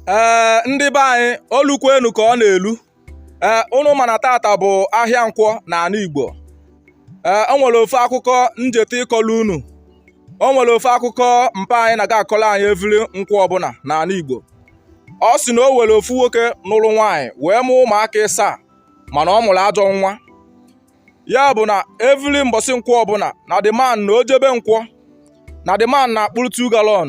ee ndị be anyị o lukwenu ka ọ na-elu ee unu ma na taata bụ ahịa nkwọ na ala Igbo ee o nwere ofu akụkọ njeta ịkọlụ unu o nwere ofu akụkọ mpa anyị na-aga akọlụ anyị every nkwọ ọbụla na ala Igbo ọ sị na o nwere ofu nwoke nụrụ nwaanyị wee mụọ ụmụaka ịsaa mana ọ mụrụ ajọ nwa ya bụ na every mbọsị nkwọ ọbụla na the man na o jebe nkwọ na the man na-akpụrụ 2 gallon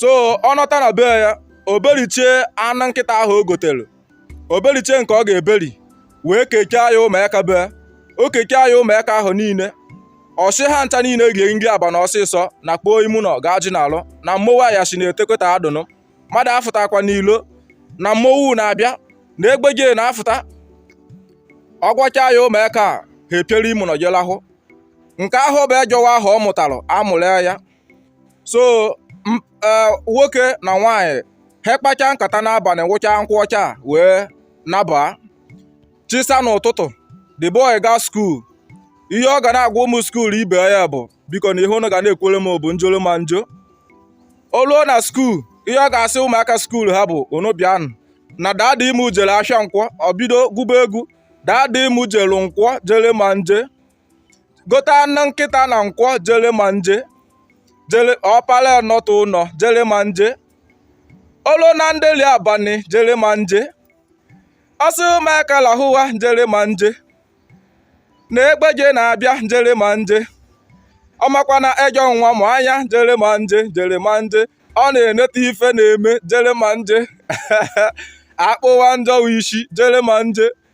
so ọ nọta na be ya o berichie anụ nkịta ahụ o gotere o berichie nke ọ ga-eberi wee keke ya ụmụaka be o keke ya ụmụaka ahụ niile ọ sị ha ncha niile rie nri abanị ọsịsọ nakpoo ime ụnọ gaa je naalụ na mmọwụ anyasị na-etekweta adụnụ mmadụ afụtakwa n'ilo na mmọwụ na-abịa na egbeje na-afụta ọ gwachaa ya ụmụaka a ha epiere ime ụnọ je lahụ nke ahụ bụ ejọ nwa ahụ ọ mụtara amụrụ anya so eh, nwoke na nwaanyị ha kpacha nkata n'abalị nwụcha nkwụ ọcha wee naba chi saa n'ụtụtụ the boy ga skuul ihe ọ ga na-agwa ụmụ skuul ibe ya bụ bikonụ ihe unu ga na-ekwere m bụ njoro ma njo o luo na skuul ihe ọ ga-asị ụmụaka skuul ha bụ unu bịanụ na daddy mụ jere ahịa nkwọ o bido gụba egwu daddy mụ jere nkwọ jere ma nje gota anụ nkịta na nkwọ jere ma nje jere ọ para nọta ụnọ jere ma nje o lu na ndeli abalị jere ma nje ọ sị ụmụaka lahụwa jere ma nje na egbeje na-abịa jere ma nje ọ makwa na ejọ nwa mụ anya jere ma nje jere ma nje ọ na-eneta ife na-eme jere ma nje akpụwa njọ isi jere ma nje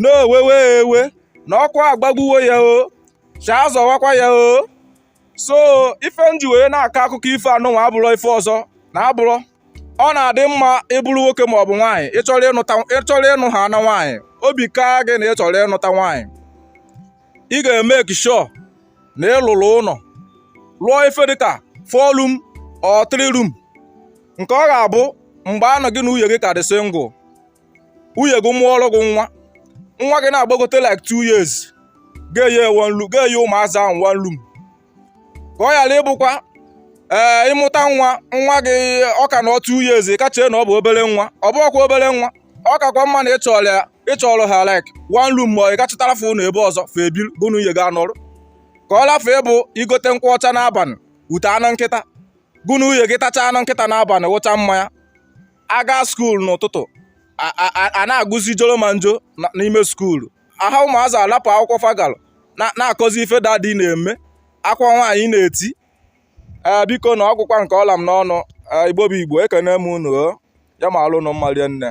n'owewe ewe na ọkụ agbagbuwo ya o chi azọwakwa ya o so ife m ji wee na-akọ akụkọ ifo anụnwa abụrọ ife ọzọ na-abụrọ ọ na-adị mma ị bụrụ nwoke ma ọ bụ nwaanyị ị chọrọ ịnụ ha na nwaanyị obi kaa gị na ị chọrọ ịnụta nwaanyị ị ga-emake sure na ị lụrụ ụnọ lụọ ife dịka four room or three room nke ọ ga-abụ mgbe anụ gị na nwunye gị ka dị single nwunye gị mụọrọ gị nwa nwa gị na-agbagote like two years ga-enye one room ga-enye ụmụazị ahụ one room ka ọ ghara ịbụkwa ee eh, ị mụta nwa nwa gị ọka na two years ka chee na ọ bụ obere nwa ọ bụrọkwa obere nwa ọ kakwa mma na ị chọọrọ ya ị chọọrọ ha like one room ma ị gaa chọtara fa ụnọ ebe ọzọ fa ebi gụ na nwunye gị anọrụ ka ọ lafụ ịbụ i gote nkwụ ọcha n'abalị gote anụ nkịta gụ na nwunye gị tachaa anụ nkịta n'abalị nwụchaa mmanya a gaa skuul n'ụtụtụ a na-agụzi joro ma njo n'ime skuulu aha ụmụazị alapụ akwụkwọ fa galụ na-akọzi ife dadi na-eme akwa nwaanyị na-eti ee biko na ọ gwụkwa nke ọ la m n'ọnụ igbo bụ igbo ekene m unu ya maalụ nụ mma lie nne